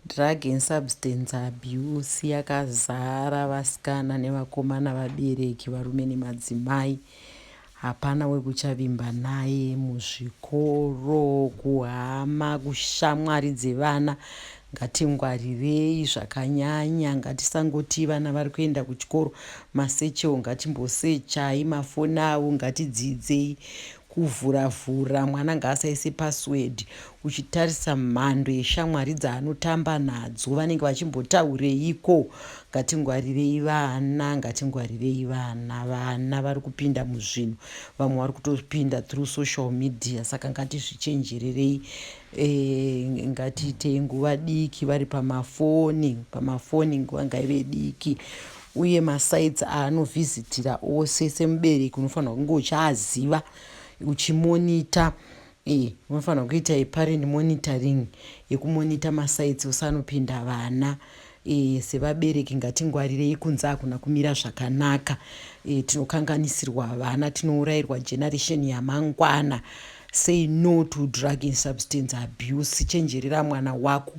Drug and substance abuse yakazara vasikana nevakomana vabereki varume nemadzimai hapana wekuchavimba naye muzvikoro kuhama kushamwari dzevana ngatingwarirei zvakanyanya ngatisangoti vana vari kuenda kuchikoro masechewo ngatimbosechai mafoni avo ngatidzidzei Kuvhura vhura mwana ngaasaise password uchitarisa mhando yeshamwari dzaanotamba nadzo vanenge vachimbotaureiko ngatingwarirei vana ngatingwarirei vana vana vari kupinda muzvinhu vamwe vari kutopinda through social media saka ngatizvichenjererei e, ngatiitei nguva diki vari pamafoni pamafoni nguva ngaive diki uye masites aanovhizitira ose semubereki unofanirwa kunge uchaaziva uchimonita e, unofanirwa kuita yeparent monitoring yekumonita masites ose anopinda vana e, sevabereki ngatingwarirei kunze hakuna kumira zvakanaka e, tinokanganisirwa vana tinourairwa generation yamangwana say no to drug and substance abuse chenjerera mwana wako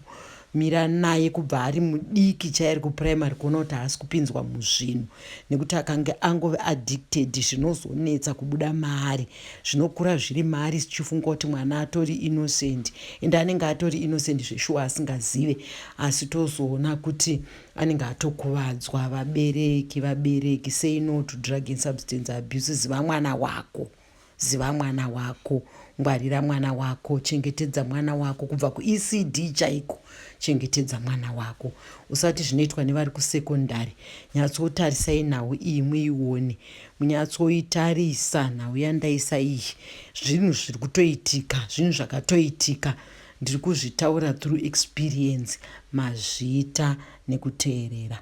mira naye kubva ari mudiki chairi kuprimary kuona kuti haasi kupinzwa muzvinhu nekuti akange angove addicted zvinozonetsa kubuda maari zvinokura zviri maari sichifunga kuti mwana atori innocent ende anenge atori innocent zveshuwa asingazive asi tozoona kuti anenge atokuvadzwa vabereki vabereki say no to drug and substance abuses vamwana wako Ziva mwana wako, ngwarira mwana wako, chengetedza mwana wako kubva kuECD chaiko. Chengetedza mwana wako. Usati zvinoitwa nevari kusekondari. Nyatsotarisai nhau iyi muione. Munyatsoitarisa nhau yandaisa iyi. Zvinhu zviri kutoitika, zvinhu zvakatoitika. Ndiri kuzvitaura through experience. Mazvita nekuteerera.